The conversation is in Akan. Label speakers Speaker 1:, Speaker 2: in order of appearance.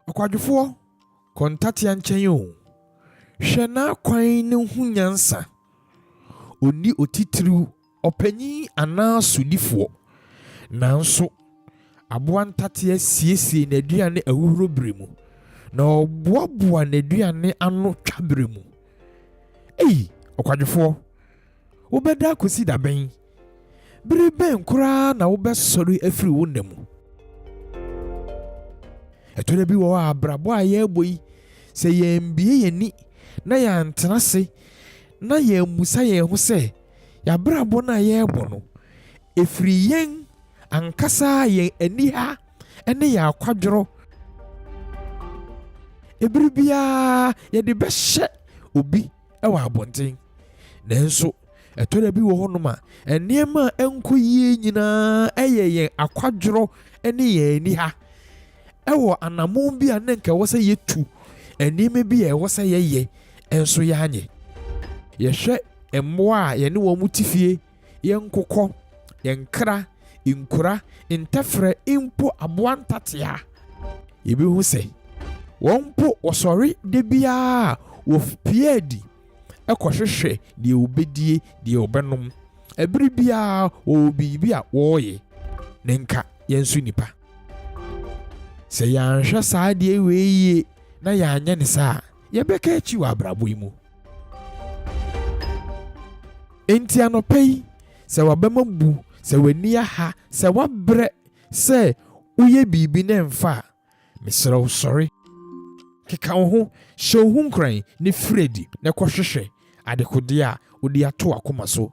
Speaker 1: Ɔkwadwofoɔ, kɔ ntatea nkyɛn o. Hwɛ n'akwan no hu nyansa, ɔnni otitiriw. ɔpanyin anaa sodifoɔ. Nanso, aboa ntateɛ siesie n'aduane ahuhuro berɛ mu, na ɔboaboa n'aduane ano twa berɛ mu. Ei, ɔkwadwofoɔ, wobɛda akɔsi da bɛn? Bere bɛn koraa na wobɛsɔre afiri wo nna mu? Ɛtɔ da bi wɔ hɔ a, abrabɔ a yɛrebɔ yi, sɛ yɛambue yɛn ani na yɛantena ase na yɛammisa yɛn ho sɛ, y'abrabɔ no a yɛrebɔ no, ɛfiri yɛn ankasa yɛn aniha ne yɛn akwadworɔ. Ɛberɛ biara yɛde bɛhyɛ obi wɔ abɔnten. Nanso ɛtɔ da bi wɔ hɔ nom a, nneɛma a ɛnkɔ yie nyinaa yɛ yɛn akwadworɔ ne yɛn aniha. wɔ anammɔn bi a na anka ɛwɔ sɛ yetu, nneɛma bi a ɛwɔ sɛ yɛyɛ nso yɛanyɛ. Yɛhwɛ mmoa a yɛne wɔn te fie, yɛn nkokɔ, yɛn nkra, nkura, ntɛferɛ, mpo aboa ntatea a, yebehu sɛ wɔn mpo wɔsɔre da biara a wɔpue adi kɔhwehwɛ deɛ wɔbɛdie, deɛ wɔbɛnom. Bere biara wɔwɔ biribi a wɔreyɛ. Na anka yɛn nso nnipa. Sɛ yɛanhwɛ saa adeɛ wei yie na yɛanyɛ ne saa a, yɛbɛka akyi wɔ abrabɔ yi mu. Enti anɔpa yi, sɛ w'abam abu, sɛ w'ani aha, sɛ woabrɛ sɛ woyɛ biribi na ɛmfa a, mesrɛ wo sɔre, keka wo ho, hyɛ wo ho nkuran, na firi adi na kɔhwehwɛ adekodeɛ a wode ato w'akoma so